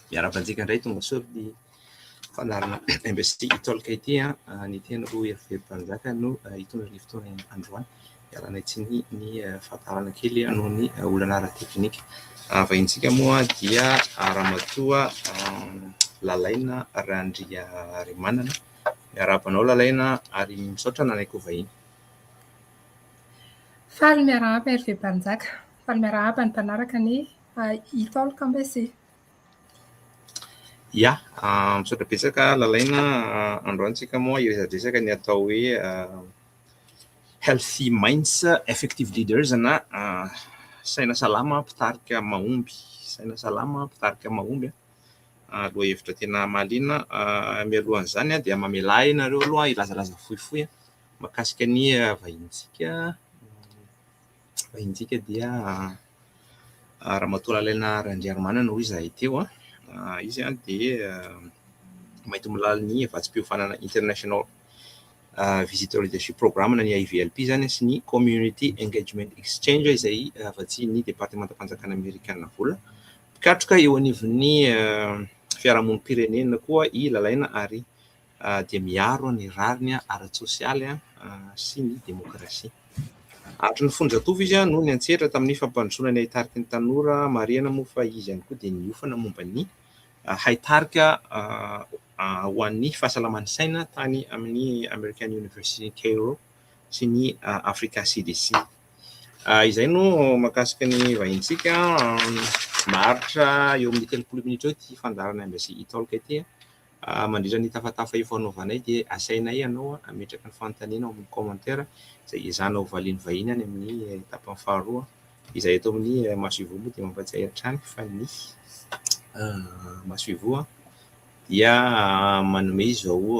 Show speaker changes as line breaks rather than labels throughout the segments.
Miarahaba antsika indray tongasoa ny fandaharana MBC Talk ity an. Ah. Ny teny roa herivery mpanjaka no ah, hitondra ny fotoana androany. Ialana tsiny ny ah, fahatarana kely noho ny olana ara-teknika. Vahintsika moa dia ramatoa Lalaina Randria Rimanana. Miarahaba anao Lalaina ary misaotra nanaiky ho vahiny.
Faly miarahaba Hervé Mpanjaka. Faly miarahaba ny mpanaraka anie Itaolo Kambese.
Ia, misaotra betsaka Lalaina, androany tsika moa hiresadresaka ny atao hoe Healthy Minds, Effective Leaders na Saina salama mpitarika mahomby, Saina salama mpitarika mahomby, lohahevitra tena mahaliana. Mialohan'izany dia mamelà ahy ianareo aloha hilazalaza fohifohy. mahakasika ny vahinintsika, vahinintsika dia Ramatoa Lalina Randriarimanana hoy izahay teo, izy dia mahita-milaly ny vatsim-piofanana International Visitor Leadership Program na ny IVLP izany sy ny Community Engagement Exchange izay vatsian'ny Departemantam-panjakana Amerikana vola, mpikatroka eo anivon'ny fiarahamonim-pirenena koa i Lalaina ary dia miaro ny rariny ara-tsosialy sy ny demokrasia. Hatry ny fonjatovo izy no niantsetra tamin'ny fampandrosoana ny haitarika ny tanora, marihana moa fa izy ihany koa dia niofana momba ny haitarika ho an'ny fahasalaman'ny saina tany amin'ny American University Cairo sy ny Afrika CDC. Izay no mahakasika ny vahintsika, maharitra eo amin'ny telopolo minitra eo ity fandaharana Embassy Italk ity. Mandritra ny tafatafa io fanaovanay dia asainay ianao hametraka ny fanontanianao amin'ny commentaire izay hiezahana ho valian'ny vahiny any amin'ny tapany faharoa. Izahay eto amin'ny Masoivoho moa dia mampahatsiahy hatrany fa ny Masoivoho dia manome izao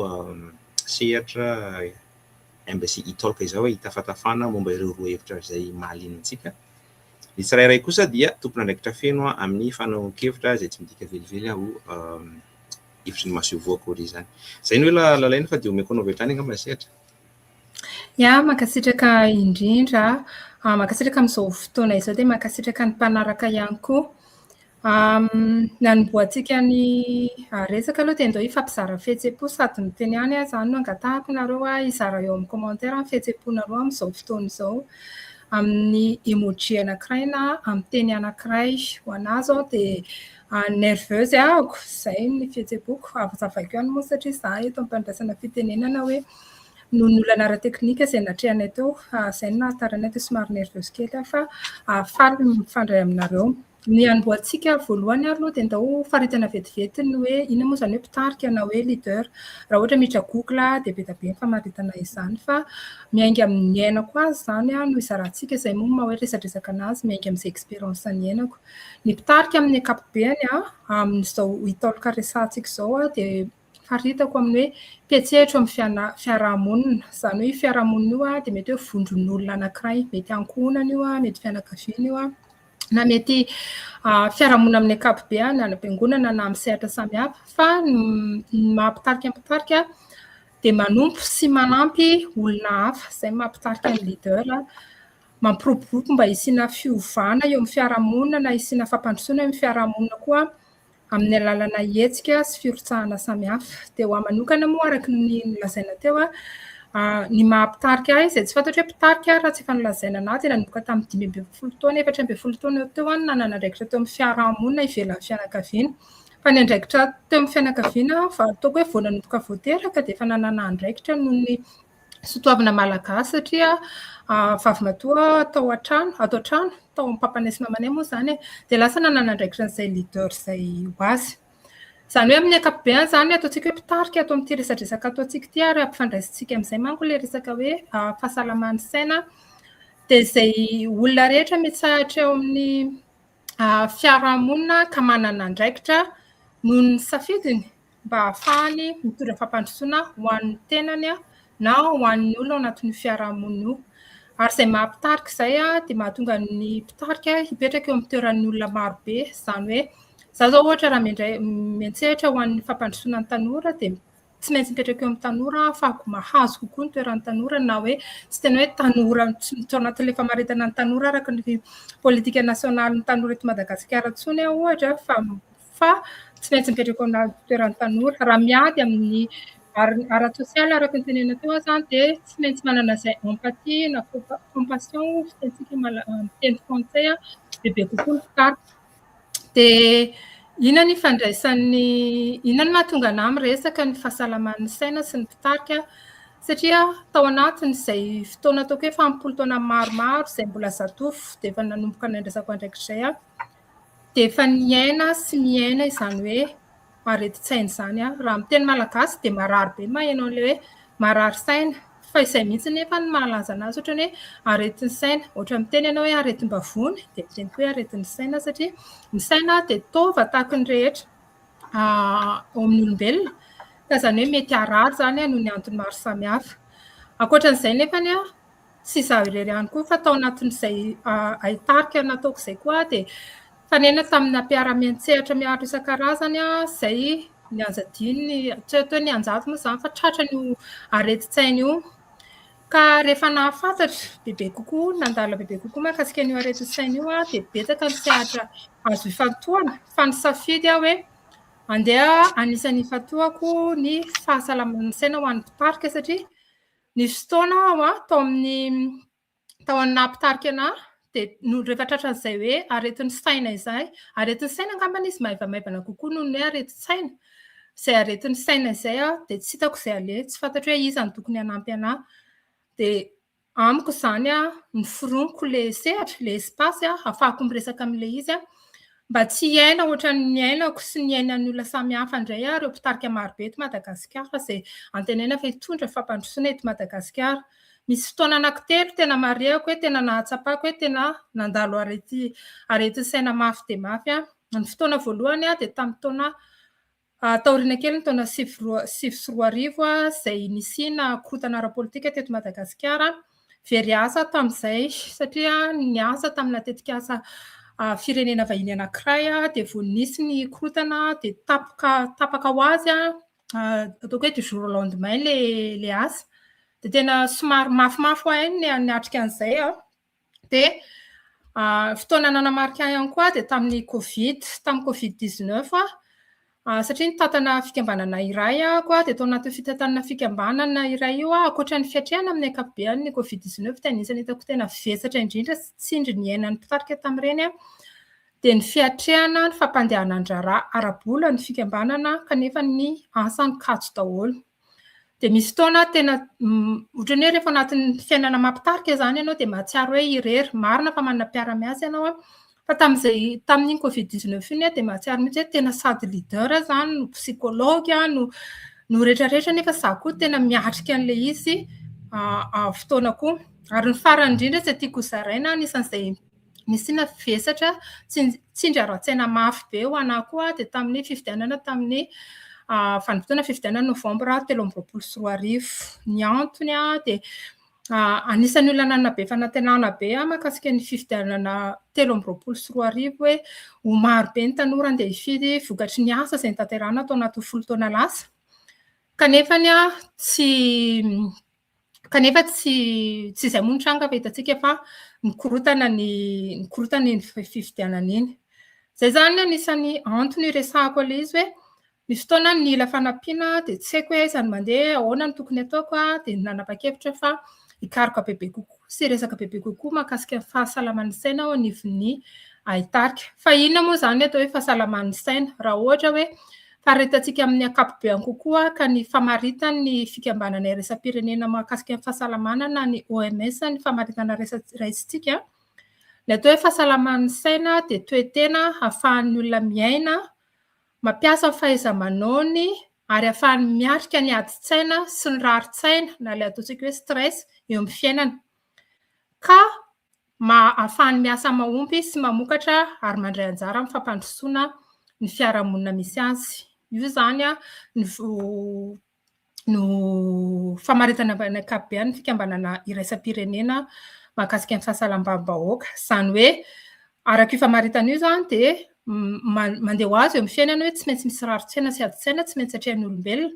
sehatra mbs e-talk izao hoe hitafatafana momba ireo roa hevitra izay mahaliana antsika. Ny tsirairay kosa dia tompon'andraikitra feno amin'ny fanaovan-kevitra izay tsy midika velively ho hevitry ny masoivoho akory izany. Izay no hoe lalaina fa dia omeko anao avy hatrany angamba ny sehatra.
Ya, mankasitraka indrindra. Mankasitraka amin'izao fotoana izao dia mankasitraka ny mpanaraka ihany koa. Ny hanombohantsika ny resaka aloha dia ndao hifampizara fihetsem-po sady miteny ihany aho izany no angatahako nareo hoe hizara eo amin'ny commentaire ny fihetsem-ponareo amin'izao fotoana izao amin'ny emoji anankiray na amin'ny teny anankiray. Ho anà izao dia nerveuse ahako, izay ny fihetsem-poko. Hazavaiko ihany moa satria izaho eto am-pandraisana fitenenana hoe noho ny olana ara-teknika izay natrehanay teo, izay no nahatara anay dia somary nerveuse kely aho fa faly ny mifandray aminareo. Ny hanombohantsika voalohany ary aloha dia ndao ho faritana vetivety ny hoe inona moa izany hoe mpitarika na hoe leader. Raha ohatra miditra google dia be dia be ny famaritana izany fa miainga amin'ny iainako azy izany no izarantsika, izay moa no maha hoe resadresaka an'azy, miainga amin'izay expérience niainako. Ny mpitarika amin'ny ankapobeny amin'izao hitaoloka resahantsika izao dia Faritako amin'ny hoe petsehatra eo amin'ny fiaraha-monina. Izany hoe io fiaraha-monina io dia mety hoe vondron'olona anankiray. Mety ankohonana io, mety fianakaviana io, na mety fiaraha-monina amin'ny ankapobeny, any am-piangonana na amin'ny sehatra samihafa. Fa ny maha mpitarika mpitarika dia manompo sy manampy olona hafa. Izay no maha mpitarika ny leader. Mampiroborobo mba hisiana fiovana eo amin'ny fiaraha-monina na hisiana fampandrosoana eo amin'ny fiaraha-monina koa. amin'ny alalana hetsika sy firotsahana samihafa. Dia ho ahy manokana moa araka ny nolazaina teo, ny maha mpitarika ahy izay tsy fantatro hoe mpitarika aho raha tsy efa nolazaina anah dia nanomboka tamin'ny dimy ambin'ny folo taona, efatra ambin'ny folo taona eo teo aho no nanana andraikitra teo amin'ny fiaraha-monina ivelan'ny fianakaviana. Fa ny andraikitra teo amin'ny fianakaviana aho vao ataoko hoe vao nanomboka vao teraka dia efa nanana andraikitra noho ny Soatoavina malagasy satria vavimatoa tao an-trano, ato an-trano, tao amin'ny papany sy mamanay moa izany e, dia lasa nanana andraikitra an'izay leader izay ho azy. Izany hoe amin'ny ankapobeny izany ny ataontsika hoe mpitarika ato amin'ity resadresaka ataontsika ity ary ampifandraisintsika amin'izay manko ilay resaka hoe fahasalaman'ny saina dia izay olona rehetra mitsahatra eo amin'ny fiarahamonina ka manana andraikitra noho ny safidiny mba hahafahany mitondra fampandrosoana ho an'ny tenany na ho an'ny olona ao anatin'io fiarahamonina io. Ary izay maha mpitarika izay dia mahatonga ny mpitarika hipetraka eo amin'ny toeran'ny olona marobe. Izany hoe izaho izao ohatra raha miantsehatra ho an'ny fampandrosoana ny tanora dia... tsy maintsy mipetraka eo amin'ny tanora aho fa mahazo kokoa ny toeran'ny tanora na hoe tsy tena hoe tanora tsy ao anatin'ilay famaritana ny tanora araka ny politika nasionaly ny tanora eto Madagasikara intsony aho ohatra fa fa tsy maintsy mipetraka eo amin'ny toeran'ny tanora raha miady amin'ny ara-tsosialy araka ny tenena teo aho zany dia tsy maintsy manana izay empathie na compassion fitentsika miteny frantsay bebe kokoa ny fitarika Dia inona ny ifandraisan'ny, inona no mahatonga anà miresaka ny fahasalaman'ny saina sy ny mpitarika? Satria tao anatin'izay fotoana ataoko hoe fahampolo taona maromaro izay mbola zatovo dia efa nanomboka nandraisako andraikitray aho, dia efa niaina sy miaina izany hoe aretin-tsaina izany aho. Raha miteny malagasy dia marary be ny maheno an'ilay hoe marary saina. Fa izay mihitsy anefa no mahalaza an'azy ohatrany hoe aretin'ny saina. Ohatra miteny ianao hoe aretim-bavony dia miteny koa hoe aretin'ny saina satria ny saina dia taova tahaka ny rehetra ao amin'ny olombelona ka izany hoe mety harary izany noho ny antony maro samihafa. Ankoatra an'izay anefa, tsy izaho irery ihany koa fa tao anatin'izay haitarika nataoko izay koa aho dia nifanena tamina mpiara-miantsehatra miaro isan-karazany aho izay nihaza adinony, tsy hoe teo nianjady moa izany fa tratran' io aretin-tsaina io ka rehefa nahafantatra bebe kokoa, nandalina bebe kokoa mahakasika an'io aretin-tsaina io aho dia betsaka ny sehatra azo ifantohana fa nisafidy aho hoe handeha hanisany ifantohako ny fahasalaman'ny saina ho an'ny mpitarika satria Nisy fotoana aho a, tao amin'ny tao amin'ny naha mpitarika anahy dia no rehefa tratran'izay hoe aretin'ny saina izay, aretin'ny saina angambany izy maivamaivana kokoa noho ny hoe aretin-tsaina, izay aretin'ny saina izay aho dia tsy hitako izay aleha, tsy fantatro hoe iza no tokony hanampy anahy. Dia amiko izany noforoniko ilay sehatra, ilay espace ahafahako miresaka amin'ilay izy Mba tsy hiaina ohatran'ny niainako sy niainan'ny olona samihafa indray aho ireo mpitarika marobe eto Madagasikara izay antenaina fa hitondra fampandrosoana eto Madagasikara. Misy fotoana anankitelo tena marihako hoe tena nahatsapako hoe tena nandalo aretin-tsaina mafy dia mafy aho. Ny fotoana voalohany dia tamin'ny taona Tao aoriana kely ny taona sivy sy roa arivo izay nisiana korontana ara-politika teto Madagasikara, very asa tamin'izay satria niasa tamina tetikasa firenena vahiny anankiray dia vao nisy ny korontana dia tapoka tapaka ho azy ataoko hoe du jour au lendemain ilay asa. Dia tena somary mafimafy ho ahy ny niatrika an'izay. Dia fotoana nanamarika ahy ihany koa dia tamin'ny covid, tamin'ny covid 19 aho satria nitantana fikambanana iray aho dia tao anatin'io fitantanana fikambanana iray io aho, ankoatra ny fiatrehana amin'ny ankapobeny ny covid 19 dia anisan'ny hitako tena vesatra indrindra sy tsindry niainan'ny mpitarika tamin'ireny aho dia ny fiatrehana ny fampandehanan-draharaha ara-bola ny fikambanana kanefa ny asany kajy daholo. Dia misy fotoana aho tena ohatran'ny hoe rehefa anatin'ny fiainana mampitarika izany ianao dia mahatsiaro hoe irery. Marina fa manana mpiara-miasa ianao an, fa tamin'izay tamin'iny covid 19 iny aho dia mahatsiaro mihitsy hoe tena sady leader aho izany no psychologue aho no no rehetrarehetra nefa izaho koa tena miatrika an'ilay izy fotoana koa. Ary ny farany indrindra izay tiako ho zaraina anisan'izay Nisiana vesatra tsy tsindry ara-tsaina mafy be ho anah koa dia tamin'ny fifidianana tamin'ny vanim-potoana fifidianana novambra telo amby roapolo sy roa arivo. Ny antony dia anisan'ny olona nanana be fanantenana be ahy mahakasika ny fifidianana telo amby roapolo sy roa arivo hoe ho maro be ny tanora handeha hifidy vokatry ny asa izay notanterahina tao anatin'ny folo taona lasa. Kanefa tsy kanefa tsy tsy izay moa ny tranga fa hitantsika fa mikorotana ny mikorotana iny fifidianana iny. Izay zany no anisan'ny antony iresahako ilay izy hoe ny fotoana ny ila fanampiana dia tsy haiko hoe aiza no mandeha, ahoana no tokony ataoko dia nanapa-kevitra fa hikaroka bebe kokoa sy hiresaka bebe kokoa mahakasika ny fahasalaman'ny saina ao anivon'ny haitarika. Fa inona moa izany atao hoe fahasalaman'ny saina raha ohatra hoe faharetantsika amin'ny ankapobeany kokoa ka ny famaritan'ny fikambanana iraisam-pirenena mahakasika ny fahasalamana na ny OMS ny famaritana raisintsika, ny atao hoe fahasalaman'ny saina dia toe-tena hahafahan'ny olona miaina, mampiasa ny fahaiza-manaony ary hahafahany miatrika ny adin-tsaina sy ny rarin-tsaina na ilay ataontsika hoe stress eo amin'ny fiainana ka mba ahafahany miasa mahompy sy mamokatra ary mandray anjara amin'ny fampandrosoana ny fiarahamonina misy azy. Io izany no famaritana amin'ny ankapobeny ny fikambanana iraisam-pirenena mahakasika ny fahasalamam-bahoaka. Izany hoe araka io famaritana io izany dia... mandeha ho azy eo amin'ny fiainana hoe tsy maintsy misy rarin-tsaina sy adin-tsaina tsy maintsy atrehan'ny olombelona.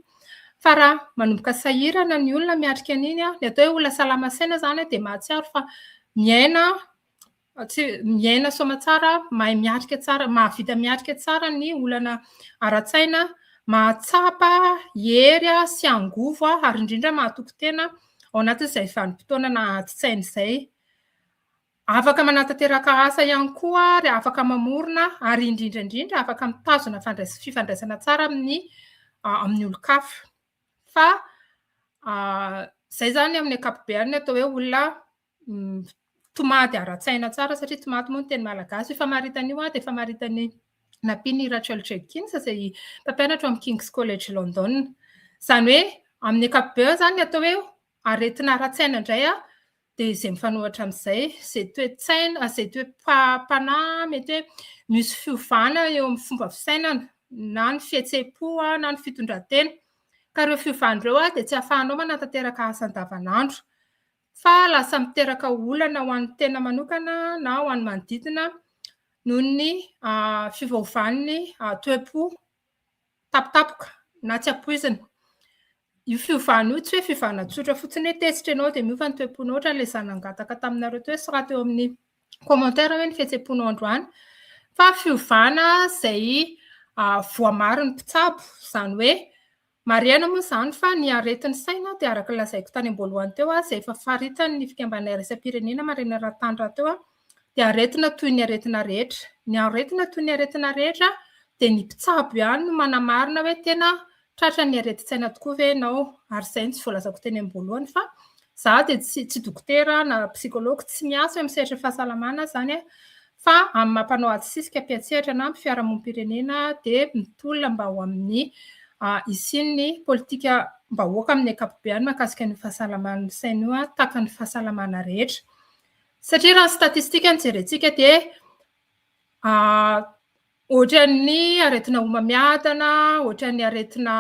Fa raha manomboka sahirana ny olona miatrika an'iny, ny atao hoe olona salama saina izany dia mahatsiaro fa miaina tsy miaina soamantsara, mahay miatrika tsara, mahavita miatrika tsara ny olana ara-tsaina, mahatsapa hery sy angovo ary indrindra mahatoky tena ao anatin'izay vanim-potoana naha-adi-tsaina izay. Afaka manatanteraka asa ihany koa ary afaka mamorona ary indrindra indrindra afaka mitazona fandrais- fifandraisana tsara amin'ny ah, amin'ny olon-kafa. Fa ah, zay zany amin'ny ankapobeny atao hoe olona mm, tomady ara-tsaina tsara satria tomady moa ny teny malagasy. Io famaritana io ah, dia famaritan'ny nampian'i Rachel Jenkins izay mpampianatra ao amin'ny King's College London. Izany hoe amin'ny ankapobeny zany ny atao hoe aretina ara-tsaina indray ah, dia izay mifanohitra amin'izay, izay toe-tsaina, izay toe-panahy mety hoe misy fiovana eo amin'ny fomba fisainana na ny fihetseham-po na ny fitondran-tena. Ka ireo fiovana ireo dia tsy ahafahanao manatanteraka asa andavanandro, fa lasa miteraka olana ho an'ny tena manokana na ho an'ny manodidina noho ny fiovaovan'ny toe-po. tampotampoka na tsy ampoizina. Io fiovana io tsy hoe fiovana tsotra fotsiny hoe tezitra ianao dia miova ny toe-ponao ohatran'ilay izaho nangataka taminareo teo sy raha teo amin'ny commentaire hoe ny fihetseham-ponao androany fa fiovana izay voamarin'ny mpitsabo izany hoe Marihana moa izany fa ny aretin'ny saina dia araka ny lazaiko tany am-boalohany teo izay efa faritan'ny fikambanana iraisam-pirenena marenina raha-tany rahateo dia aretina toy ny aretina rehetra. Ny aretina toy ny aretina rehetra dia ny mpitsabo ihany no manamarina hoe tena tratran'ny aretin-tsaina tokoa ve ianao ary izay no tsy voalazako teny am-boalohany fa izaho dia tsy dokotera na psikology, tsy miasa eo amin'ny sehatra fahasalamana izany aho fa amin'ny maha mpanao ady sisika, mpiantsehatra na mpifiarahamonim-pirenena dia mitolona mba ho amin'ny hisian'ny politikam-bahoaka amin'ny ankapobeany mahakasika an'io fahasalaman'ny saina io, tahaka ny fahasalamana rehetra. Satria raha ny statistika no jerentsika dia Ohatran'ny aretina homamiadana, ohatran'ny aretina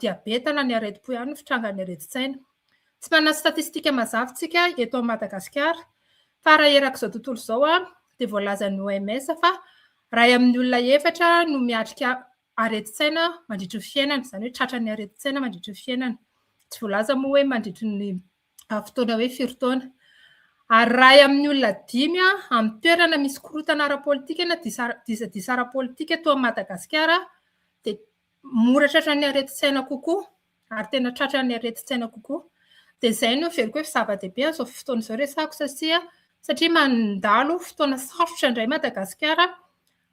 diabeta na ny aretim-po ihany ny fitrangan'ny aretin-tsaina. Tsy manana statistika mazava isika eto Madagasikara fa raha erak'izao tontolo izao dia voalazan'ny OMS fa iray amin'ny olona efatra no miatrika aretin-tsaina mandritry ny fiainany, izany hoe tratran'ny aretin-tsaina mandritry ny fiainany. Tsy voalaza moa hoe mandritry ny amin'ny fotoana hoe firy taona. Ary raha ahy amin'ny olona dimy amin'ny toerana misy korontana ara-politika na disadisa ara-politika toa an'i Madagasikara dia mora tratran'ny aretin-tsaina kokoa ary tena tratran'ny aretin-tsaina kokoa. Dia izay no heveriko hoe zava-dehibe amin'izao fotoana izao resahako satria mandalo fotoana sarotra indray Madagasikara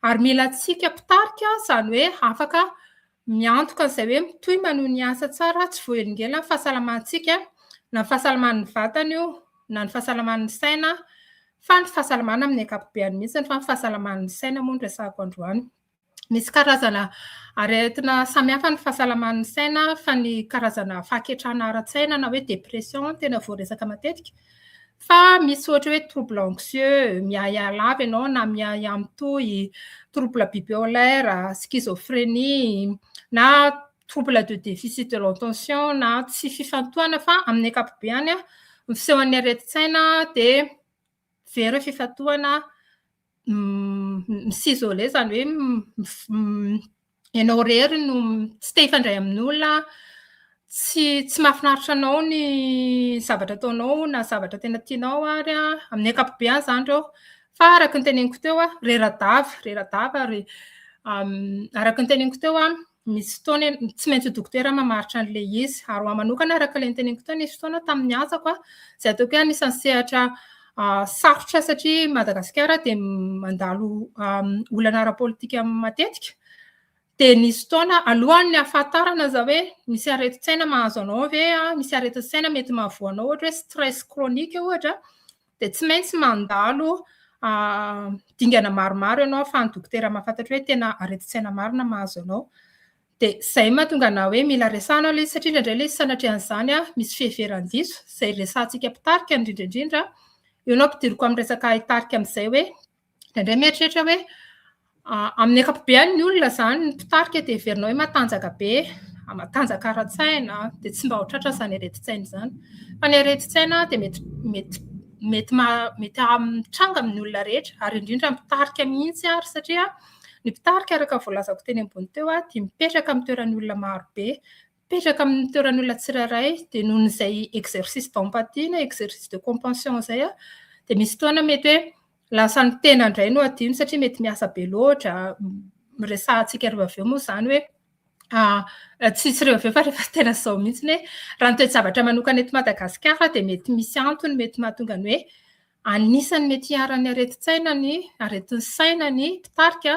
Ary mila antsika mpitarika, izany hoe afaka miantoka an'izay hoe mitohy maneho ny asa tsara tsy voahelingelinan'ny fahasalamantsika, na ny fahasalaman'ny vatana io, na ny fahasalaman'ny saina, fa ny fahasalamana amin'ny ankapobeny mihitsy, fa ny fahasalaman'ny saina moa no resahako androany. Misy karazana aretina samihafa ny fahasalaman'ny saina, fa ny karazana fahaketrahana ara-tsaina na hoe dépression tena voaresaka matetika, Fa misy ohatra hoe trouble anxieux, miahiahy lava ianao na miahiahy mitohy, trouble bipolaire, schizophrénie, na trouble de déficit de l'attention na tsy fifantohana fa amin'ny ankapobeny ny fisehon'ny aretin-tsaina dia very fifantohana m'isoler izany hoe ianao irery no tsy te hifandray amin'olona, tsy tsy mahafinaritra anao ny zavatra ataonao na zavatra tena tianao ary amin'ny ankapobeny izany ireo. Fa araka ny teneniko teo, rera-dava, rera-dava ary araka ny teneniko teo Misy fotoana tsy maintsy dokotera mamaritra an'ilay izy. Ary ho ahy manokana, araka ilay noteneniko teo, nisy fotoana tamin'ny asako izay ataoko hoe anisan'ny sehatra sarotra satria Madagasikara dia mandalo olana ara-politika matetika. Dia nisy fotoana alohan'ny hahafantarana za hoe misy aretin-tsaina mahazo anao ve, misy aretin-tsaina mety mahavoa anao, ohatra hoe stress chronique ohatra, dia tsy maintsy mandalo dingana maromaro ianao ahafahan'ny dokotera mahafantatra hoe tena aretin-tsaina marina mahazo anao. Dia izay mahatonga anao hoe mila resahana ilay izy, satria indraindray ilay izy sanatrian'izany misy fiheveran-diso, izay resahantsika mpitarika indrindra indrindra, eo no ampidiriko amin'ny resaka hitarika amin'izay hoe Indraindray mieritreritra hoe amin'ny ankapobeny ny olona izany ny mpitarika dia heverinao hoe matanjaka be, matanjaka ara-tsaina dia tsy mba ho tratra izany aretin-tsaina izany. Fa ny aretin-tsaina dia mety mety mety mety mitranga amin'ny olona rehetra ary indrindra mpitarika mihitsy ary satria ny mpitarika araka voalazako teny ambony teo dia mipetraka amin'ny toeran'ny olona maro be. Mipetraka amin'ny toeran'olona tsirairay dia noho izay exercice d'empathie na exercice de compassion izay aho dia misy fotoana mety hoe lasa ny tena indray no adino satria mety miasa be loatra, resahantsika ry vavy eo moa izany hoe tsisy ry vavy fa rehefa tena izao mihitsy hoe raha ny toe-javatra manokana eto Madagasikara dia mety misy antony mety mahatonga ny hoe anisan'ny mety hiharan'ny aretin-tsaina ny aretin'ny saina ny mpitarika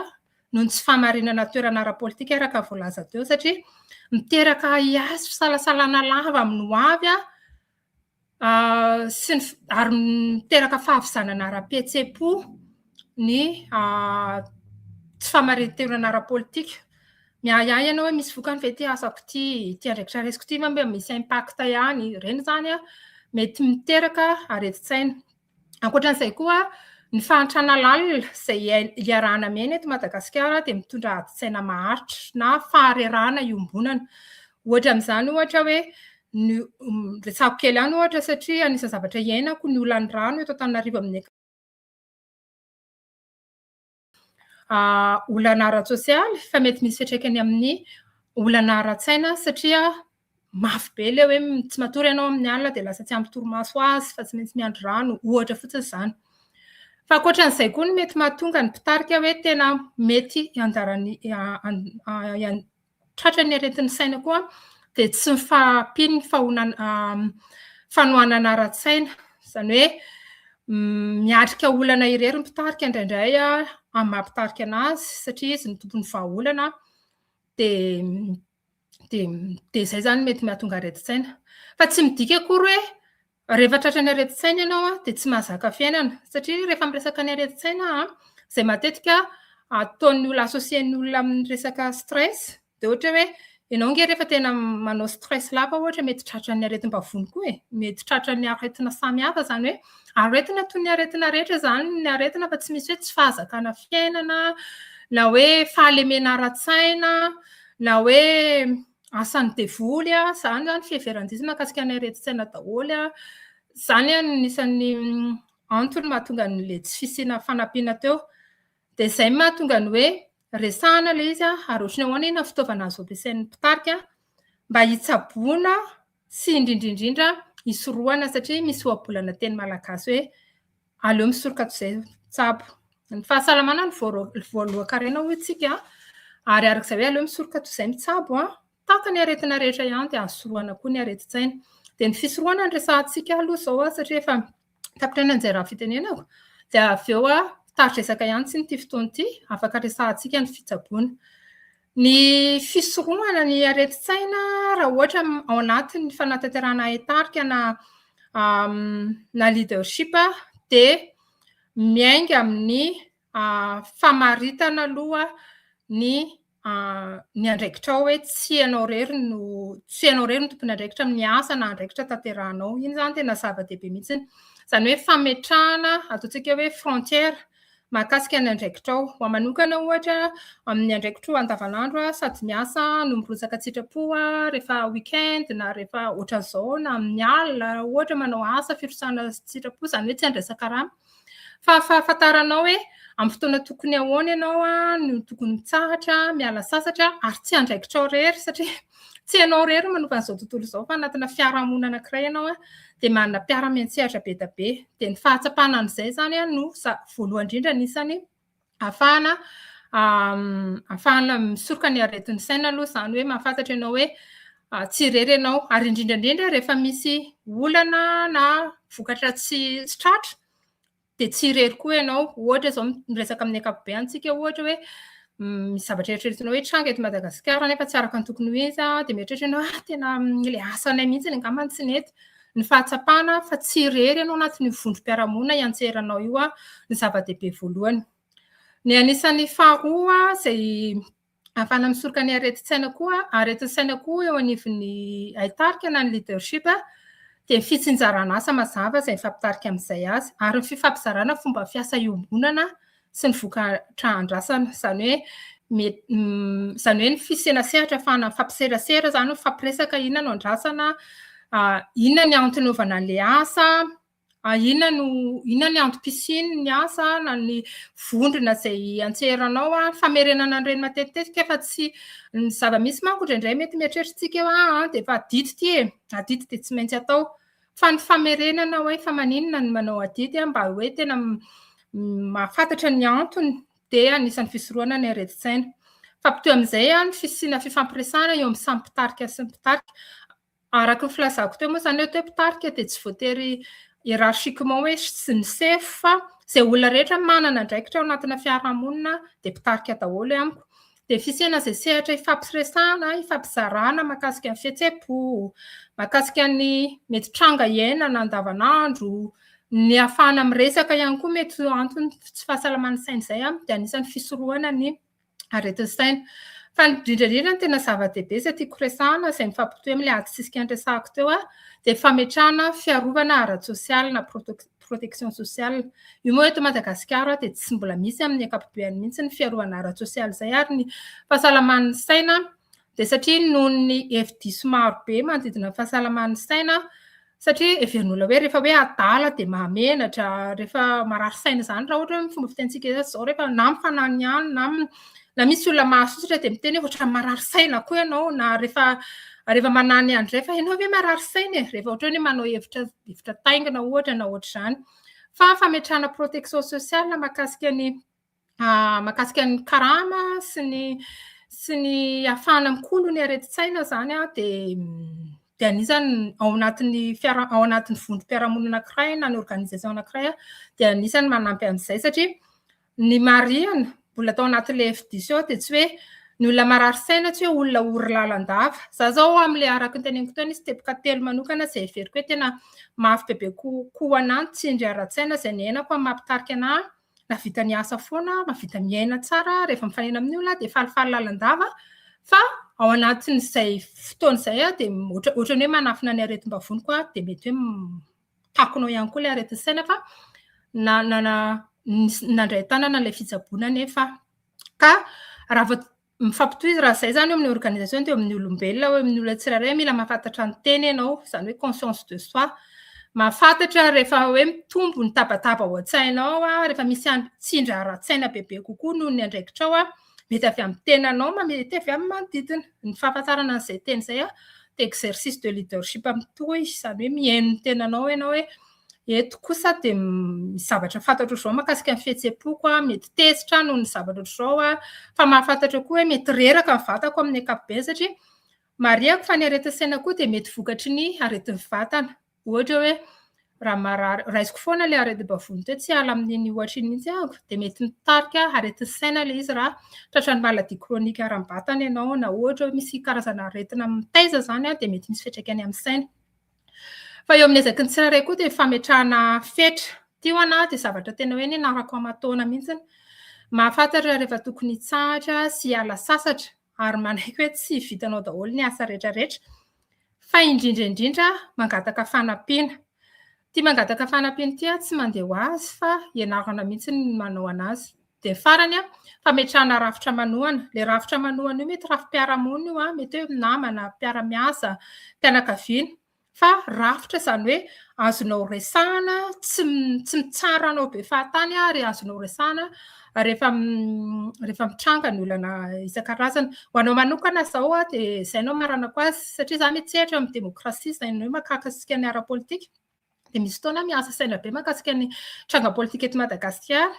noho ny tsy fahamarinana toerana ara-politika araka ny voalaza teo satria miteraka ahiahy sy fisalasalana lava amin'ny ho avy sy ny ary miteraka fahavizanana ara-pihetseham-po ny tsy fahamarin-toerana ara-politika. Miahiahy ianao hoe misy vokany ve ity asako ity, ity andraikitra raisiko ity ve mba misy impact ihany? Ireny izany mety miteraka aretin-tsaina. Ankoatra an'izay koa, ny fahantrana lalina izay iarahana miaina eto Madagasikara dia mitondra adin-tsaina maharitra na faharerahana iombonana. Ohatra amin'izany ohatra hoe ny retsako kely ihany ohatra satria anisan'ny zavatra iainako ny olan'ny rano eto Antananarivo amin'ny olana ara-tsosialy fa mety misy fiatraikany amin'ny olana ara-tsaina satria mafy be ilay hoe tsy matory ianao amin'ny alina dia lasa tsy ampy torimaso azy fa tsy maintsy miandry rano, ohatra fotsiny izany. Fa ankoatran'izay koa no mety mahatonga ny mpitarika hoe tena mety ianjara Tratra ny aretin'ny saina koa dia tsy ny fahampian'ny fanohanana ara-tsaina. Izany hoe miatrika olana irery ny mpitarika indraindray amin'ny maha mpitarika anazy satria izy no tompon'ny vahaolana dia dia izay izany mety mahatonga aretin-tsaina. Fa tsy midika akory hoe Rehefa tratran'ny aretin-tsaina ianao dia tsy mahazaka fiainana satria rehefa miresaka ny aretin-tsaina izay matetika ataon'ny olona associer-ny olona amin'ny resaka stress dia ohatra hoe ianao nge rehefa tena manao stress lava ohatra mety tratran'ny aretim-bavony koa e, mety tratran'ny aretina samihafa izany hoe aretina toy ny aretina rehetra izany ny aretina fa tsy misy hoe tsy fahazakana fiainana na hoe fahalemena ara-tsaina na hoe asan'ny devoly a, zany zany fiheveran-diso mahakasika ny aretin-tsaina daholo a, zany a ny isan'ny mm, antony mahatonga an'le tsy fisiana fanampiana teo, dia zay mahatonga ny hoe resahana le izy a, ary ohatry ny ahoana iny fitaovana azo ampiasain'ny mpitarika mba hitsaboana Sy indrindrindrindra hisorohana satria misy ohabolana teny malagasy hoe aleo misoroka toy izay tsabo. Ny fahasalamana no voalohan-karena hoy isika ary araka izay hoe aleo misoroka toy izay mitsabo, tahaka ny aretina rehetra ihany dia azo sorohana koa ny aretin-tsaina. Dia ny fisorohana no resahantsika aloha izao satria efa... tapitra ihany an'izay raha fitenenako dia avy eo aho tari-dresaka ihany tsy n'ity fotoana ity afaka resahantsika ny fitsaboana ny fisorohana ny aretin-tsaina raha ohatra ao anatin'ny fanatanterahana haitarika na na leadership dia miainga amin'ny famaritana aloha ny ny andraikitrao hoe tsy ianao irery no tsy ianao irery no tompon'andraikitra amin'ny asa na andraikitra tanterahanao. Iny izany tena zava-dehibe mihitsy. Izany hoe fametrahana ataontsika hoe frontière mahakasika ny andraikitrao. Ho ahy manokana ohatra amin'ny andraikitro andavanandro aho sady miasa no mirotsaka tsy sitrapo aho rehefa week-end na rehefa ohatran'izao na amin'ny alina ohatra manao asa firotsahana tsy sitrapo, izany hoe tsy handraisan-karama. Fa fahafantaranao hoe amin'ny fotoana tokony ahoana ianao no tokony mitsahatra, miala sasatra ary tsy andraikitrao irery satria tsy ianao irery no manova an'izao tontolo izao fa anatina fiarahamonina anankiray ianao dia manana mpiara-miantsehatra be dia be. Dia ny fahatsapana an'izay izany no voalohany indrindra anisan'ny ahafahana ahafahana misoroka ny aretin'ny saina aloha izany hoe mahafantatra ianao hoe tsy irery ianao. Ary indrindra indrindra rehefa misy olana na vokatra tsy tsy tratra dia tsy irery koa ianao. Ohatra izao miresaka amin'ny ankapobeny isika ohatra hoe misy zavatra eritreretinao hoe tranga eto Madagasikara nefa tsy araka ny tokony ho izy dia mieritreritra ianao hoe tena ilay asanay mihitsy angamba no tsy nety. Ny fahatsapana fa tsy irery ianao anatin'io vondrom-piarahamonina iantseranao io no zava-dehibe voalohany. Ny anisan'ny faharoa izay ahafahana misoroka ny aretin-tsaina koa, aretin'ny saina koa eo anivon'ny haitarika na ny leadership dia ny fitsinjaran'asa mazava izay mifampitarika amin'izay azy ary ny fifampizarana fomba fiasa iombonana sy ny vokatra andrasana, izany hoe izany hoe ny fisena sehatra afahana mifampiserasera izany, mifampiresaka inona no andrasana, inona ny antony anaovana an'ilay asa, inona no inona ny antom-pisian'ny asa na ny vondrona izay antseranao, famerenana an'ireny matetitetika fa tsy ny zava-misy manko indraindray mety mieritreritra antsika hoe ah, dia efa adito ity e, adito dia tsy maintsy atao. Fa ny famerenana hoe fa maninona no manao adidy a, mba hoe tena mahafantatra ny antony dia anisan'ny fisorohana ny aretin-tsaina. Fa potoy amin'izay a, ny fisiana fifampiresahana eo amin'ny samy mpitarika sy ny mpitarika. Araka ny filazako teo moa izany hoe mpitarika dia tsy voatery hiérarchiquement hoe sy ny sefo fa izay olona rehetra manana andraikitra ao anatina fiarahamonina dia mpitarika daholo amiko. dia fisehana izay sehatra ifampiresahana, ifampizarana mahakasika ny fihetseham-po, mahakasika ny mety tranga iainana andavanandro, ny hahafahana miresaka ihany koa mety ho antony tsy fahasalaman'ny saina izay dia anisan'ny fisorohana ny aretin'ny saina. Fa ny indrindra indrindra ny tena zava-dehibe izay tiako resahana izay mifampitohy amin'ilay adisisika niresahako teo dia fametrahana fiarovana ara-tsosialy na protection protection sociale. Io moa eto Madagasikara dia tsy mbola misy amin'ny ankapobeny mihitsy ny fiarovana ara-tsosialy izay ary ny fahasalaman'ny saina dia satria noho ny hevi-diso maro be manodidina ny fahasalaman'ny saina satria heverin'olona hoe rehefa hoe adala dia mahamenatra, rehefa marary saina izany raha ohatra hoe fomba fitentsika izao rehefa na mifanany ihany na na misy olona mahasosotra dia miteny hoe ohatran'ny marary saina koa ianao na rehefa rehefa manany an'izay fa ianao ve marary saina e rehefa ohatran'ny hoe manao hevitra hevitra taingina ohatra na ohatr'izany fa fametrahana protection sociale makasika ny ah, makasika ny karama sy ny sy ny afahana mikolo ny aretin-tsaina zany a dia dia anisany ao anatin'ny fiara ao anatin'ny vondrom-piarahamonina anankiray na ny organisation anankiray dia anisany manampy an'izay satria Ny marihina, mbola tao anatin'ilay hevi-diso eo dia tsy hoe ny olona marary saina tsy hoe olona ory lalandava. Za zao amin'ilay araka ny teneniko teo nisy teboka telo manokana izay heveriko hoe tena mafy bebe kokoa anah ny tsindry ara-tsaina izay niainako amin'ny maha-mpitarika anah nahavita niasa foana aho, mahavita miaina tsara rehefa mifanena amin'ny olona aho dia falifaly lalandava fa ao anatin'izay fotoana izay aho dia ohatran'ny hoe manafina ny aretim-bavoniko aho dia mety hoe takonao ihany koa ilay aretin'ny saina fa nandray tanana ilay fitsaboana anefa ka raha vao mifampitohizo raha izay izany eo amin'ny organisation dia eo amin'ny olombelona eo amin'ny olona tsirairay mila mahafantatra ny tena ianao izany hoe conscience de soi mahafantatra rehefa hoe mitombo ny tabataba ao an-tsainao rehefa misy any tsindry ara-tsaina bebe kokoa noho ny andraikitrao Mety avy amin'ny tenanao, mety avy amin'ny manodidina. Ny fahafantarana an'izay teny izay an, dia exercice de leadership mitohy, izany hoe mihaino ny tenanao ianao hoe eto kosa dia misy zavatra fantatro ohatr'izao mahakasika ny fihetseham-poko aho, mety tezitra aho noho ny zavatra ohatr'izao aho, fa mahafantatra eo koa hoe mety reraka ny vatako amin'ny ankapobeny satria marihiko fa ny aretin-tsaina koa dia mety vokatry ny aretin'ny vatana. Ohatra hoe raha marary, raisiko foana ilay aretim-bavony teo, tsy hiala amin'iny ohatra iny mihitsy aho, dia mety mitarika aretin'ny saina ilay izy raha tratran'ny maladie chronique ara-batana ianao na ohatra hoe misy karazana aretina mitaiza izany dia mety misy fiantraikany amin'ny saina. Fa eo amin'ny ezaky ny tsirairay koa dia fametrahana fetra. Ity ho anà dia zavatra tena hoe nianarako aman-taona mihitsy. Mahafantatra rehefa tokony hitsahatra sy hiala sasatra ary manaiky hoe tsy vitanao daholo ny asa rehetra rehetra. Fa indrindra indrindra aho mangataka fanampiana. Ity mangataka fanampiana ity aho tsy mandeha ho azy fa ianarana mihitsy ny manao an'azy. Dia farany an, fametrahana rafitra manohana. Ilay rafitra manohana io mety rafi-piarahamonina io, mety hoe namana, mpiara-miasa, fianakaviana. Fa rafitra izany hoe azonao resahana, tsy tsy mitsara anao be fahatany ary azonao resahana rehefa rehefa mitranga ny olana isan-karazany. Ho anao manokana izao dia izay no amaranako azy satria za mihetsehatra amin'ny demokrasia izay ny hoe mahakasika ny ara-politika dia misy fotoana miasa saina be mahakasika ny tranga politika eto Madagasikara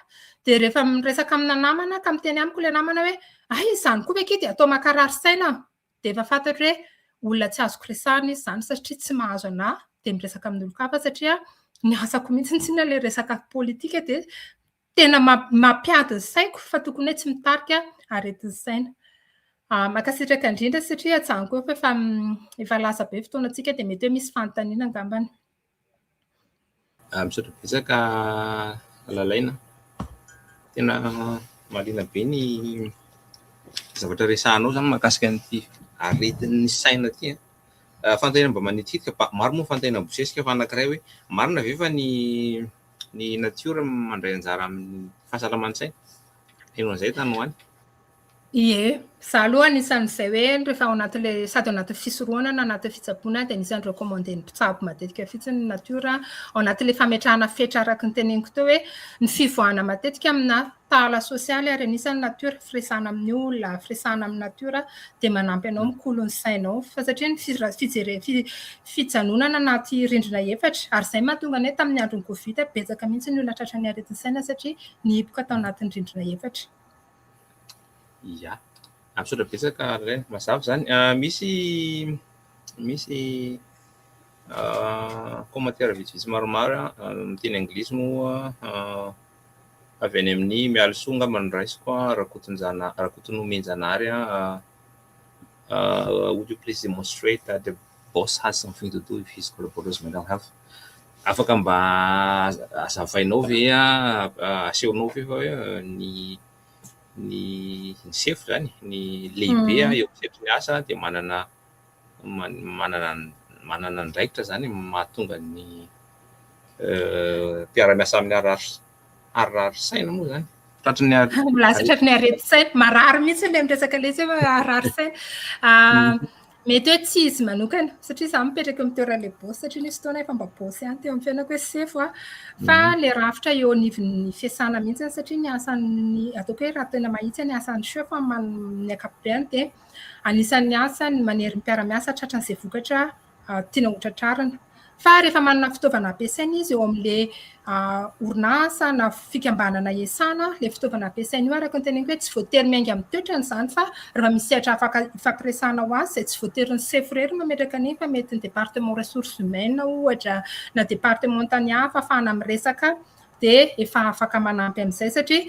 dia rehefa miresaka amina namana ka miteny amiko ilay namana hoe ay izany koa ve akia dia atao mankarary saina dia efa fantatro hoe olona tsy azoko resahana izy izany satria tsy mahazo anà dia miresaka amin'olon-kafa satria ny asako mihitsy ny tsinona ilay resaka politika dia Tena mampiady ny saiko fa tokony hoe tsy mitarika aretin'ny saina. Ah, mankasitraka indrindra satria hajanoko koa fa efa mm, efa lasa be fotoanantsika dia mety hoe misy fanontaniana angambany. Ah,
misaotra betsaka Lalaina. Tena marina be ny zavatra resahanao zany makasika an'ity aretin'ny saina ity. Eh. Ah, fanontaniana mba manitikitika, maro moa fanontaniana bosesika fa anankiray hoe marina ve fa ny Ny natiora mandray anjara amin'ny fahasalaman-tsaina, heno an'izay tany ho any? Ie,
izaho aloha anisan'izay hoe rehefa ao anatin'ilay sady ao anatin'ny fisorohana na anatin'ny fitsaboana dia anisan'ny recommandé-n'ny mpitsabo matetika fotsiny ny natiora ao anatin'ilay fametrahana fetra araka ny teneniko teo hoe ny fivoahana matetika aminà tahala sosialy ary anisan'ny natiora firesahana amin'ny olona, firesahana amin'ny natiora dia manampy anao mikolo ny sainao fa satria ny fijere- fi- fijanonana anaty rindrina efatra ary izay no mahatonga ny hoe tamin'ny andron'ny covid betsaka mihitsy ny olona tratran'ny aretin'ny saina satria nihiboka tao anatin'ny rindrina efatra.
Ia. Ah, misaotra betsaka Alain, mazava izany. Ah, misy misy ah, commentaire vitsivitsy maromaro ah, amin'ny teny anglisy moa ah, Avy any amin'ny Mialison angamba no raisiko an, Rakotonjanahary, Rakotonomenjanahary an, would you please demonstrate that the boss has something to do with his collaborators mental health? Afaka mba azavainao ve an, asehonao ve fa hoe ny ny ny sefo zany, ny lehibe eo amin'ny sehatry ny asa dia manana. manana manana andraikitra zany mahatonga ny mpiara-miasa aminy harary saina moa zany tratry ny lasa
tratry ny arety saina marary mihitsy ilay miresaka ilay izy hoe harary saina ah, mety hoe tsy izy manokana satria za mipetraka amin'ny toeran'ilay bosy satria nisy fotoana efa mba bosy ihany teo amin'ny fiainako hoe sefo a fa mhm. le rafitra eo anivon'ny fiasana mihitsy satria ny asan'ny ataoko hoe raha tena mahitsy ny asan'ny chef amin'ny ankapobeny dia Anisan'ny asany ny manery ny mpiara-miasa tratra an'izay vokatra tiana hotratrarina. Fa rehefa manana fitaovana ampiasaina izy eo amin'ilay orinasa na fikambanana hiasana, ilay fitaovana ampiasaina io araka ny teneniko hoe tsy voatery miainga amin'ny toetrany izany fa raha misy sehatra afaka hifampiresahana ho azy izay tsy voatery ny sefo irery no mametraka an'iny fa mety ny département ressources humaines ohatra na département tany hafa afahana miresaka dia efa afaka manampy an'izay satria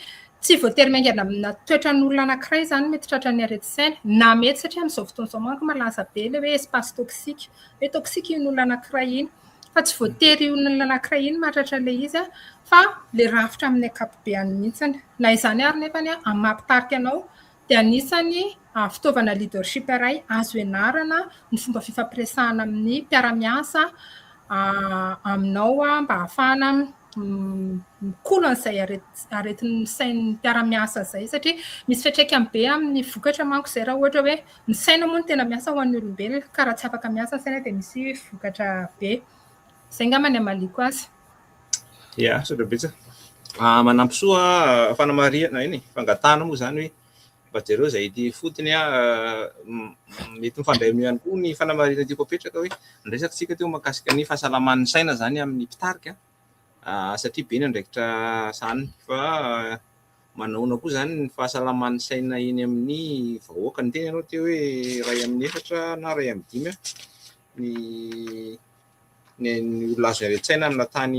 tsy voatery miaingana amina toetran'olona anankiray izany mety tratra ny aretin-tsaina na mety satria amin'izao fotoana izao manko malaza be ilay hoe espace toxique hoe toxique iny olona anankiray iny fa tsy voatery io olona anankiray iny mahatratra ilay izy fa ilay rafitra amin'ny ankapobeany mihitsy na izany ary nefa ny amin'ny maha mpitarika anao dia anisan'ny fitaovana leadership iray azo ianarana ny fomba fifampiresahana amin'ny mpiara-miasa aminao mba hahafahana mikolo an'izay aretin'ny sain'ny mpiara-miasa izay satria misy fiantraikany be amin'ny vokatra manko izay raha ohatra hoe ny saina moa no tena miasa ho an'ny olombelona ka raha tsy afaka miasa ny saina dia misy vokatra be. Izay angamba ny hamaliako azy. Ia,
misaotra betsaka. Ah, manampy soa ah, fanamarihana eny e, fangatahana moa izany hoe mba jereo izay ety ifotony ah, m- m- mety mifandray amin'io ihany koa ny fanamarihana tiako apetraka hoe ny resakantsika teo mahakasika ny fahasalaman'ny saina izany amin'ny mpitarika ah, satria be ny andraikitra sahaniny fa ah, manahoana koa izany ny fahasalaman'ny saina eny amin'ny vahoaka ny teny ianao teo hoe iray amin'ny efatra na iray amin'ny dimy ah, ny ny ny olona azo iaren-tsaina amina tany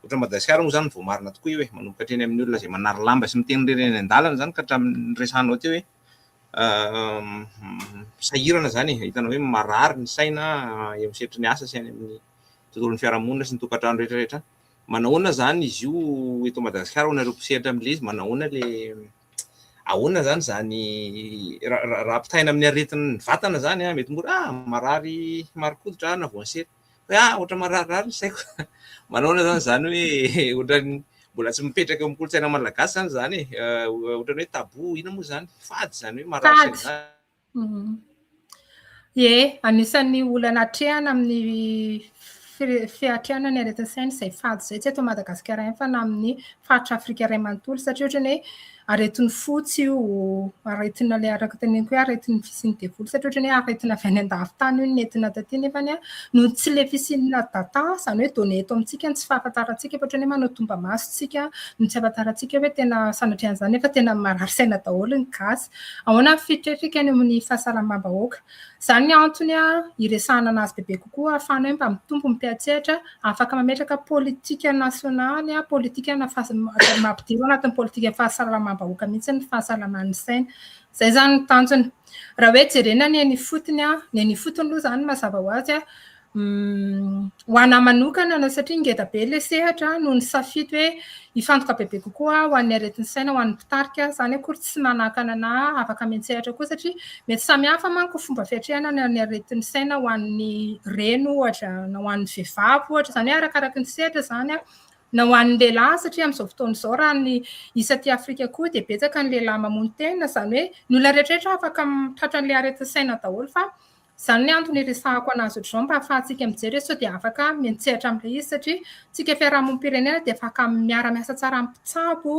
ohatran'i Madagasikara moa zany vao marina tokoa io e, manomboka hatreny amin'ny olona izay manary lamba sy miteny irery eny an-dalana zany ka hatramin'ny resahanao teo hoe sahirana zany e, hitanao hoe marary ny saina eo amin'ny sehatry ny asa sy any amin'ny tontolon'ny fiarahamonina sy ny tokantrano rehetra rehetra, manahoana zany izy io eto Madagasikara ho anareo mpisehatra amin'ilay izy manahoana le ahoana zany izany raha ampitahaina amin'ny aretin'ny vatana zany an, mety mora ah marary marin-koditra aho na voansery, hoe ah ohatra mararirary ny saiko, manaona zany izany hoe ohatran'ny mbola tsy mipetraka eo amin'ny kolontsaina malagasy zany izany e, ohatran'ny hoe tabou, inona moa izany, fady izany hoe marary saina izany.
Ie, anisan'ny olana atrehana amin'ny fiatrehana ny aretin-tsaina izay fady izay, tsy eto Madagasikara ihany fa na amin'ny faritra Afrika iray manontolo satria ohatran'ny hoe aretin'ny fo tsy io, aretina ilay araka teneniko hoe aretin'ny fisian'ny devoly satria ohatran'ny hoe aretina avy any an-davin-tany io no nentina taty nefa noho ny tsy ilay fisian'ny data izany hoe données eto amintsika no tsy fahafantarantsika fa ohatran'ny hoe manao tomba-maso isika no tsy ahafantarantsika hoe tena sanatria an'izany nefa tena marary saina daholo ny gasy. Ahoana ny fitrefika any amin'ny fahasalamam-bahoaka. Izany ny antony hiresahana an'azy bebe kokoa ahafahana hoe mba mitombo ny mpiantsehatra, afaka mametraka politika nasionaly, politikana mampidiro anatin'ny politikan'ny fahasalamam-bahoaka mihitsy ny fahasalaman'ny saina. Izay izany ny tanjona. Raha hoe jerena ny eny ifotony, ny eny ifotony aloha izany mazava ho azy, Ho an'ahy manokana na satria ngeda be ilay sehatra no nisafidy hoe hifantoka bebe kokoa aho ho an'ny aretin'ny saina ho an'ny mpitarika, izany akory tsy manakana anà afaka miantsehatra koa satria mety samihafa manko fomba fiatrehana ny an'ny aretin'ny saina ho an'ny reny ohatra na ho an'ny vehivavy ohatra, izany hoe arakaraky ny sehatra izany an, na ho an'ny lehilahy satria amin'izao fotoana izao raha ny isa aty afrika koa dia betsaka ny lehilahy mamono tena izany hoe ny olona rehetra rehetra afaka tratra an'ilay aretin'ny saina daholo fa Izany ny antony iresahako an'azy ohatr'izao mba ahafahantsika mijery hoe sao dia afaka miantsehatra amin'ilay izy satria tsika fiarahamonim-pirenena dia afaka miara-miasa tsara amin'ny mpitsabo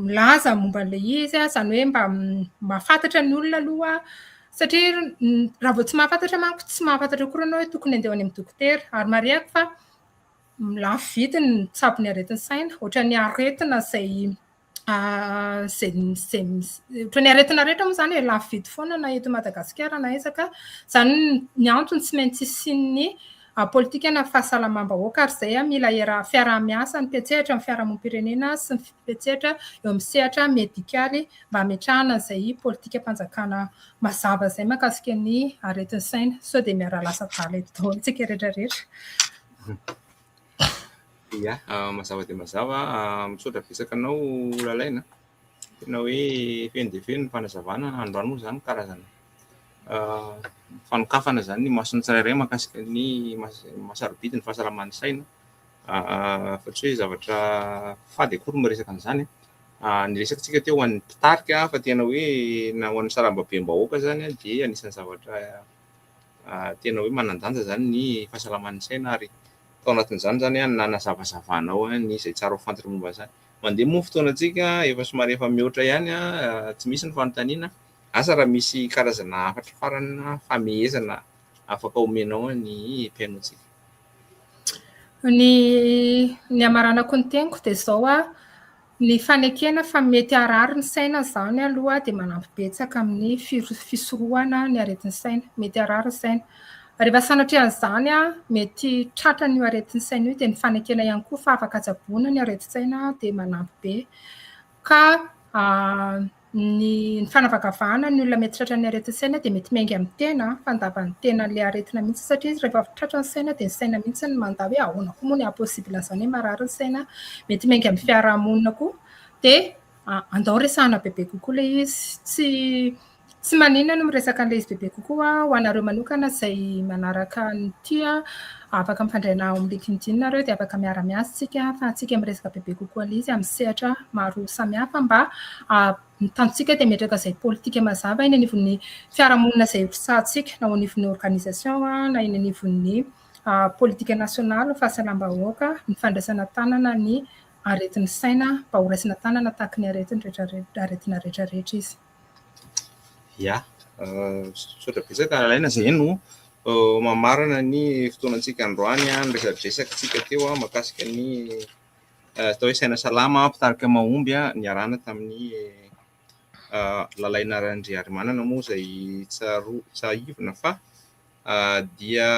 milaza momba an'ilay izy izany hoe mba mahafantatra ny olona aloha satria raha vao tsy mahafantatra manko tsy mahafantatra koa ianao hoe tokony handeha ho any amin'ny dokotera ary marihako fa lafo vidy ny mitsabo ny aretin'ny saina ohatran'ny aretina izay izay ohatran'ny aretina rehetra moa izany e, lafo vidy foana na eto Madagasikara na aiza ka, izany ny antony tsy maintsy hisian'ny politikana fahasalamam-bahoaka ary izay mila fiaraha-miasa ny mpiantsehatra amin'ny fiarahamonim-pirenena sy ny mpiantsehatra eo amin'ny sehatra medikaly mba hametrahana izay politikam-panjakana mazava izay mahakasika ny aretin'ny saina. Sao dia miara-lasa adala eto daholo isika rehetra rehetra.
Ya, mazava dia mazava. Misaotra betsaka anao Lalaina, tena hoe feno dia feno ny fanazavana. Andro andro moa izany karazana fanokafana izany ny mason'ny tsirairay mahakasika ny maha-sarobidy ny fahasalaman'ny saina fa tsy hoe zavatra fady akory ny miresaka an'izany. Ny resakantsika teo ho an'ny mpitarika fa tena hoe na ho an'ny sarambabem-bahoaka izany dia anisan'ny zavatra... tena hoe manan-danja izany ny fahasalaman'ny saina ary tao anatin'izany izany an nanazavazavanao ny izay tsara ho fantatra momba an'izany. Mandeha moa ny fotoanantsika, efa somary efa mihoatra ihany an, tsy misy ny fanontaniana, asa raha misy karazana hafatra farany na famehezana afaka omenao ny mpihainoantsika. Ny
ny hamaranako ny teniko dia izao an, Ny fanekena fa mety harary ny saina izany aloha dia manampy betsaka amin'ny fisorohana ny aretin'ny saina. Mety harary ny saina. Rehefa sanatria an'izany mety tratran'io aretin'ny saina io dia ny fanekena ihany koa fa afaka tsaboina ny aretin-tsaina dia manampy be ka ny fanavakavahana ny olona mety tratran'ny aretin-tsaina dia mety miainga amin'ny tena fa andavan'ny tenan'ilay aretina mihitsy satria izy rehefa tratra ny saina dia ny saina mihitsy no mandà hoe ahoana koa moa ny haha-possible an'izany hoe marary ny saina mety miainga amin'ny fiarahamonina koa dia ah, andao resahana bebe kokoa ilay izy tsy tsy maninona no miresaka an'ilay izy bebe kokoa ho anareo manokana izay manaraka ny tia Afaka mifandray na ao amin'ny LinkedIn nareo dia afaka miara-miasa isika ahafahantsika miresaka bebe kokoa an'izy amin'ny sehatra maro samihafa mba ny tanjontsika dia metraka izay politika mazava eny anivon'ny fiarahamonina izay ho sahantsika na ao anivon'ny organisation na eny anivon'ny politika nasionaly fahasalam-bahoaka ny fandraisana tanana ny aretin'ny saina mba horaisina tanana tahaky ny aretina rehetrarehetra izy.
Ya, misaotra betsaka Alain izay no mamarana ny fotoanantsika androany, ny resadresakantsika teo mahakasika ny atao hoe saina salama, mpitarika mahomby niarahana tamin'ny Lalaina Randriarimanana moa izay tsarovana, tsahivina fa. dia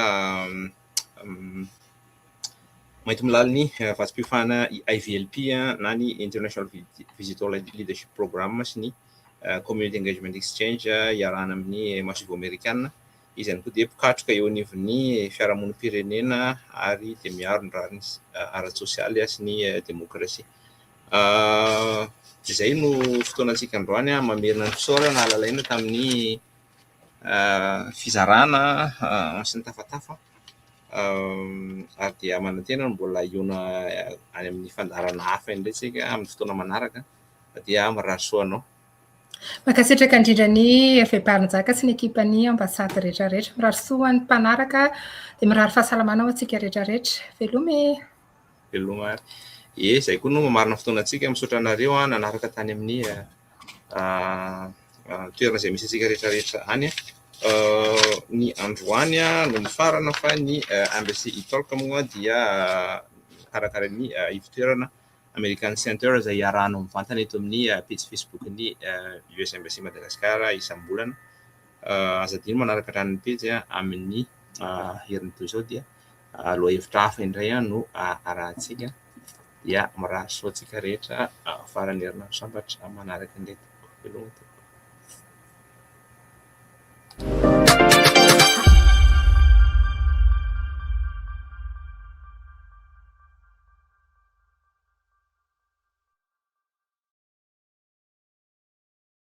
mainty milalin'ny vatsim-piofana IVLP na ny International Visitor Leadership Program sy ny Community Engagement Exchange iarahana amin'ny Masoivoho Amerikana. Izy ihany koa dia mpikatroka eo anivon'ny fiarahamonim-pirenena ary dia miaro ny rariny ara-tsosialy sy ny demokrasia. Izay no fotoanantsika androany, mamerina ny fisaorana lalaina tamin'ny fizarana sy ny tafatafa ary dia manantena ny mbola hihaona any amin'ny fandaharana hafa indray isika amin'ny fotoana manaraka dia mirary soa anao. Mankasitraka
indrindra ny Hervé Barinjaka sy ny ekipan'ny ambasady rehetra rehetra. Mirary soa ho an'ny mpanaraka dia mirary fahasalamana ho antsika rehetra rehetra. Veloma e! Veloma ary.
Ye, zay koa no mamarina fotoana antsika, misaotra anareo an nanaraka tany amin'ny toerana izay misy antsika rehetra rehetra any an. Ny androany no mifarana fa ny mbs italk moa dia karakarain'ny ivotoerana American Center izay iarahanao mivantana eto amin'ny pejy facebook ny US mbs Madagascar isam-bolana. Aza adino manaraka hatrany ny pejy amin'ny herin'ny toy izao dia. lohahevitra hafa indray no arahintsika dia mirary soa antsika rehetra faran'ny herinandro sambatra manaraka indray tompoko veloma tompoko